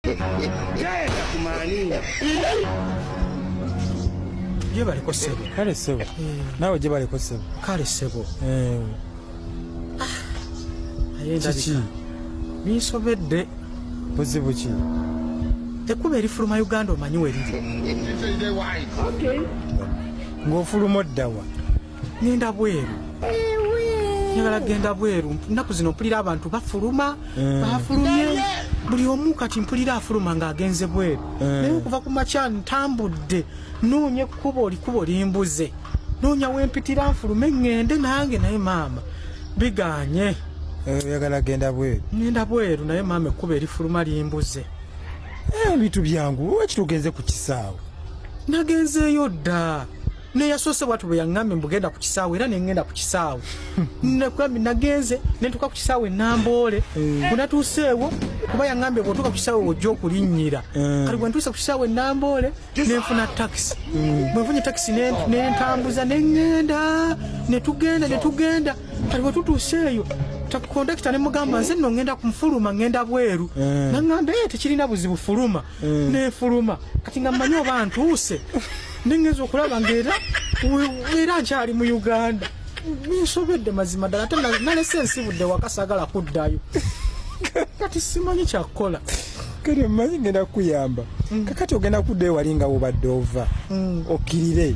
Genda kumaaninga. Gye baliko ssebo. Kale ssebo. Naawe gye baliko ssebo. Kale ssebo. Eh. Ah, aye ndabika. Binsobedde. Buzibu ki? Ekkubo erifuluma Uganda omanyi we liri. Ng'ofuluma oddawa? ngenda bweru njagala genda bweru nnaku zino mpulira abantu bafuluma eh. bafulumye buli omu kati mpulira afuluma ng'agenze bweru eh. naye okuva ku makya ntambudde noonya ekkubo likubo limbuze noonya wempitira nfulume ŋŋende nange naye maama biganye eh, oyagala genda bweru ŋenda bweru naye maama ekkubo erifuluma limbuze ebintu byangu wakitugenze ku kisaawe nagenzeeyo dda ne yasoose bwatu bwe yaŋŋambye mbugenda ku kisaawe era ne ŋŋenda ku kisaawe nakugambi nagenze ne ntuuka ku kisaawe namboole eh. bwe natuuseewo kuba yaŋŋambye bw'otuuka ku kisaawe ojja okulinnyira eh. kati bwe ntuuse ku kisaawe namboole ne nfuna takisi eh. bwe nfunye takisi ne ntambuza ne ŋŋenda ne tugenda ne tugenda kati bwe tutuuseeyo kondakita ne mugamba nze nno ŋŋenda kumufuluma ŋŋenda bweru naŋŋamba tekirina buzibu fuluma mm. nefuluma kati nga mmanyi oba ntuuse nengeza okulaba ngaera era nkyali mu uganda ninsobedde mazima ddala ate nalese ensibudde wakasagala kuddayo kati simanyi kyakukola kati omanyi ngenda kukuyamba mm. kakati ogenda kuddayo wali nga wobadde ova mm. okirire